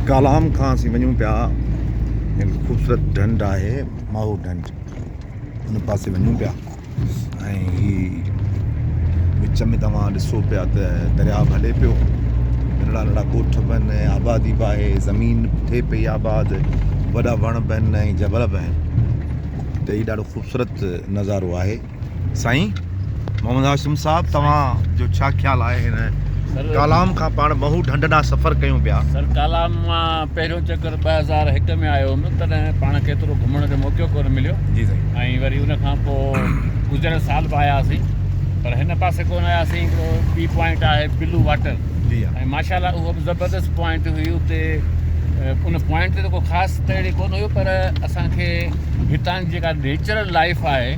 ڪالام کان اسين وڃون پيا هڪ خوبصورت ڍنڍ آهي ماهو ڍنڍ ان پاسي وڃون پيا ۽ هي وچ ۾ توهان ڏسو پيا ته درياهه به هلي پيو ننڍڙا ننڍڙا ڳوٺ به آهن آبادي به آهي زمين به ٿئي پئي آباد وڏا وڻ به آهن ۽ جبل به آهن ته هي ڏاڍو خوبصورت نظارو آهي سائين محمد هاشم صاحب توهان جو ڇا خيال آهي هن ڪالام کان پاڻ ٻهو ڍنڍ ڏانهن سفر ڪيون پيا سر ڪالام مان پهريون چڪر ٻه هزار هڪ ۾ آيو هوندو تڏهن پاڻ کي ايترو گهمڻ جو موقعو ڪونه مليو جي سائين ۽ وري ان کان پوء گذريل سال به آيا هئاسين پر هن پاسي ڪونه آيا سين هڪڙو ٻي پوائنٽ آهي بلو واٽر جي ها ۽ ماشاء الله اهو به زبردست پوائنٽ هئي اتي ان پوائنٽ تي ڪو خاص ته اهڙي ڪونه هيو پر اسان کي هتان جي جيڪا نيچرل لائف آهي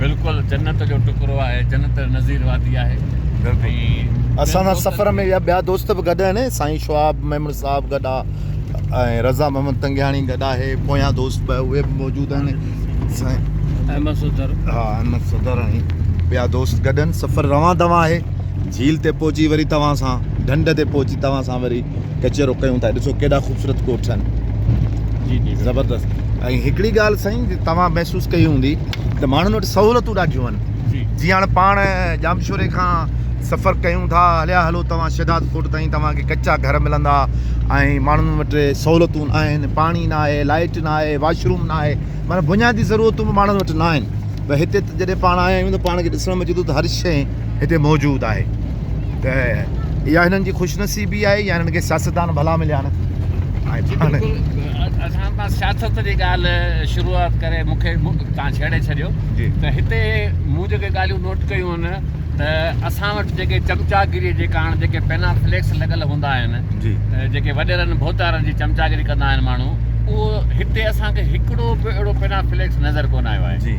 بلڪل جنت جو ٽڪرو آهي جنت نظير وادي آهي ۽ اسان سان سفر ۾ يا ٻيا دوست به گڏ آهن سائين شواب ميمڻ صاحب گڏ آ ۽ رضا محمد تنگياڻي گڏ آهي پويان دوست به اهي به موجود آهن سائين احمد صدر ها احمد صدر ۽ ٻيا دوست گڏ آهن سفر روان دوان آهي جھيل تي پهچي وري توهان سان ڍنڍ تي پهچي توهان سان وري ڪچهرو ڪيون ٿا ڏسو ڪيڏا خوبصورت ڪوٽ ٺهن جي جي زبردست ۽ هڪڙي ڳالهه سائين جي توهان محسوس ڪئي هوندي ته ماڻهن وٽ سهولتون ڏاڍيون آهن جي جي هاڻ پاڻ ڄامشوري کان سفر ڪيون ٿا هليا هلو توهان شهداد ڪوٽ تائين توهان کي ڪچا گهر ملندا ۽ ماڻهن وٽ سهولتون آهن پاڻي نه آهي لائيٽ نه آهي واشروم نه آهي معنيٰ بنيادي ضرورتون به ماڻهن وٽ نه آهن پر هتي ته جڏهن پاڻ آيا آهيون ته پاڻ کي ڏسڻ ۾ اچي ٿو ته هر شيء هتي موجود آهي ته اها هنن جي خوش نصيبي آهي يا هنن کي سياستدان ڀلا مليا آهن اسان پاس سياست جي ڳالهه شروعات ڪري مون کي تان ڇيڙي ڇڏيو ته هتي مون جيڪي ڳالهيون نوٽ ڪيون آهن ته اسان وٽ جيڪي چمچاگيري جي ڪارڻ جيڪي پينا فليڪس لڳل هوندا آهن جيڪي وڏيرن ڀوتارن جي چمچاگيري ڪندا آهن ماڻهو اهو هتي اسان کي هڪڙو به اهڙو پينا فليڪس نظر ڪونه آيو آهي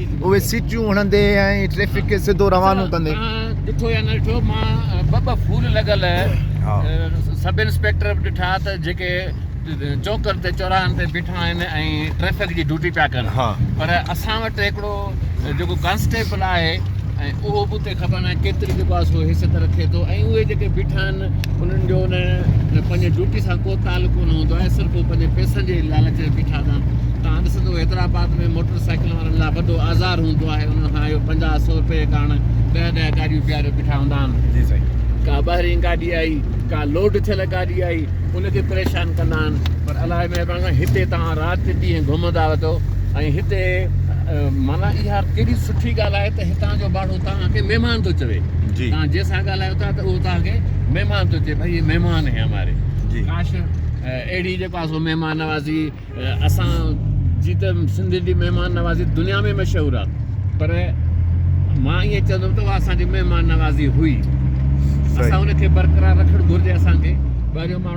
اهي سيٽيون هڻندي ۽ ٽريفڪ کي سڌو روانو ڪندي. ڏٺو يا نه ڏٺو مان ٻه ٻه ڦول لڳل سب انسپيڪٽر به ڏٺا ته جيڪي چوڪن تي چوراهن تي بيٺا آهن ۽ ٽريفڪ جي ڊيوٽي پيا ڪن پر اسان وٽ هڪڙو جيڪو ڪانسٽيبل آهي اهو به خبر ناهي ڪيتري جيڪو آهي سو حيثيت رکي ٿو ۽ اهي جيڪي بيٺا آهن انهن جو ان پنهنجي ڊيوٽي سان ڪو تعلق ڪونه هوندو آهي صرف هو پنهنجي پئسن جي لالچ ۾ بيٺا هوندا آهن تان ڏسندو حيدرآباد ۾ موٽر سائيڪلن وارن لاء وڏو آزار هوندو آهي انهن کان اهو پنجاهه سؤ روپيه ڪارڻ ڏهه ڏهه گاڏيون بيهاري بيٺا هوندا آهن جي سائين ڪا ٻاهرين گاڏي آئي ڪا لوڊ ٿيل گاڏي آئي ان کي پريشان ڪندا آهن پر الله جي مهرباني سان هتي توهان رات ڏينهن گهمندا رهندو ۽ هتي معنيٰ اها ڪيڏي سٺي ڳالهه آهي ته هتان جو ٻاڙو توهان کي مهمان ٿو چوي. توهان جنهن سان ڳالهايو ٿا ته اهو توهان کي مهمان ٿو چوي ڀئي هي مهمان هي هماري. ڪاش اهڙي جيڪو آهي سو مهمان نوازي اسان جي ته سنڌين جي مهمان نوازي دنيا ۾ مشهور آهي پر مان ائين چوندم ته اها اسان جي مهمان نوازي هئي. اسان ان کي برقرار رکڻ گهرجي اسان کي ٻاهريون ماڻهو